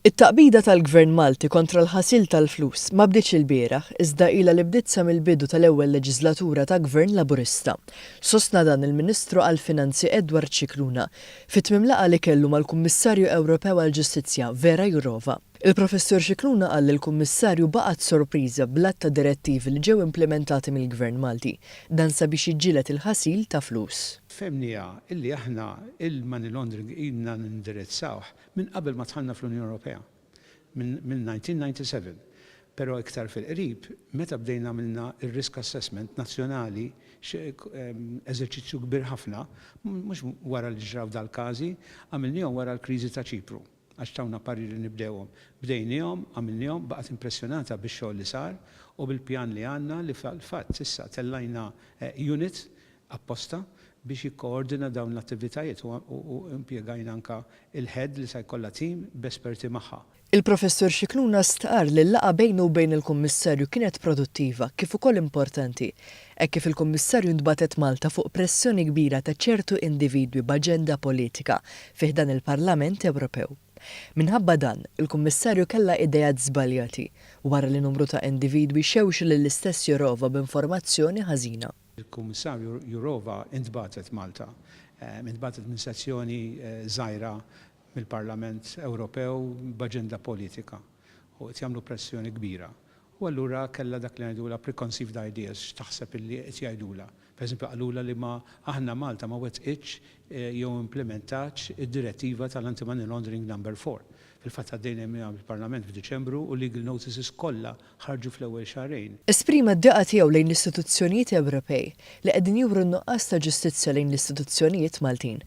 It-taqbida tal-Gvern Malti kontra l-ħasil tal-flus ma bdietx ilbieraħ iżda ilha li bdiet sa mill-bidu tal-ewwel leġiżlatura ta' Gvern Laburista. Sostna dan il-Ministru għall-Finanzi Edward Scicluna fi tmiem laqgħa li kellu mal-Kummissarju Ewropew għall-Ġustizzja Vera Jourova. Il-Professur Scicluna qal li l-Kummissarju baqgħet sorpriża bl-għadd ta' direttivi li ġew implimentati mill-Gvern Malti, dan sabiex jiġġieled il-ħasil ta' flus. Fehmniha li aħna l-money laundering ilna nindirizzawh minn qabel ma dħalna fl-Unjoni Ewropea, mill-1997, però iktar fil-qrib meta bdejna għamilna r-risk assessment nazzjonali, eżerċizzju kbir ħafna, mhux wara li ġraw dal-każi, għamilniehom wara l-kriżi ta' Ċipru. għax tawna parir li nibdewhom. Bdejniehom, għamilniehom, baqgħet impressjonata bix-xogħol li sar u bil-pjan li għandna li fil-fatt issa tellajna unit apposta biex jikkoordina dawn l-attivitajiet u impjegajna anke l-Head li se jkollha tim b'esperti magħha. Il-Professur Scicluna stqarr li l-laqgħa bejnu u bejn il-Kummissarju kienet produttiva kif ukoll importanti Hekk kif il-Kummissarju ntbagħtet Malta fuq pressjoni kbira ta' ċertu individwi b'aġenda politika fi ħdan il-Parlament Ewropew. Minħabba dan, il-Kummissarju kellha ideat żbaljati wara li numru ta' individwi xewxu lill-istess Jourova b'informazzjoni ħażina. Il-Kummissarju Jourova ntbagħtet Malta. Intbagħtet minn sezzjoni żgħira mill-Parlament Ewropew b'aġenda politika. u qed jagħmlu pressjoni kbira u allura kellha dak li ngħidulha preconceived ideas x'taħseb illi qed jgħidulha. Per eżempju qalulha li ma aħna Malta ma wettqitx jew implimentatx id-direttiva tal-anti-money laundering number four. Fil-fatt għaddejna miha bil-Parlament f'Diċembru u legal notices kollha ħarġu fl-ewwel xahrejn. Esprima d-diqa tiegħu lejn l-istituzzjonijiet Ewropej li qegħdin juru n-nuqqas ta' ġustizzja lejn l-istituzzjonijiet Maltin.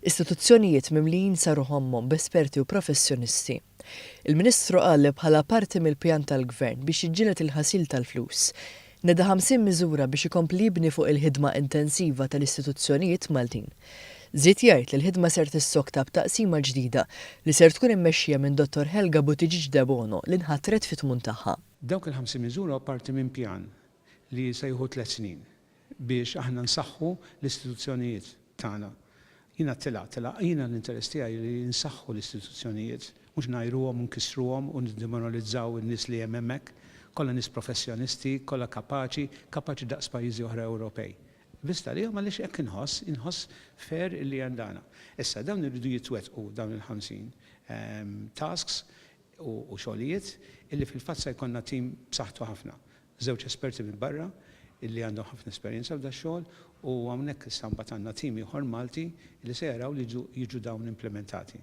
Istituzzjonijiet mimlijin sa ruħommhom b'esperti u professjonisti. Il-Ministru qal li bħala parti mill-pjan tal-Gvern biex jiġġieled il-ħasil tal-flus, neda 50 miżura biex ikompli jibni fuq il-ħidma intensiva tal-istituzzjonijiet Maltin. Żied jgħid li l-ħidma ser tissokta b'taqsima ġdida li ser tkun immexxija minn Dottor Helga Buttigieg Debono li nħatret fi tmun tagħha. Dawk il-50 miżura hu parti minn pjan li se jieħu tliet snin biex aħna nsaħħu l-istituzzjonijiet tagħna. Jiena tilgħa, tilgħa. Jiena l-interess tiegħi li nsaħħu l-istituzzjonijiet, mhux ngħajruhom u nkissruhom u niddemoralizzaw in-nies li hemm hemmhekk. Kollha nies professjonisti, kollha kapaċi, kapaċi daqs pajjiżi oħra Ewropej. Biżgħet għalihom għaliex hekk inħoss, inħoss fair illi hemm dana. Issa, dawn iridu jitwettqu dawn il-50 tasks, u xogħlijiet, illi fil-fatt se jkollna tim b'saħħtu ħafna. Żewġ esperti minn barra illi għandhom ħafna esperjenza f'dax-xogħol u hawnhekk issa mbagħad għandna tim ieħor Malti illi se jaraw li jiġu dawn implimentati.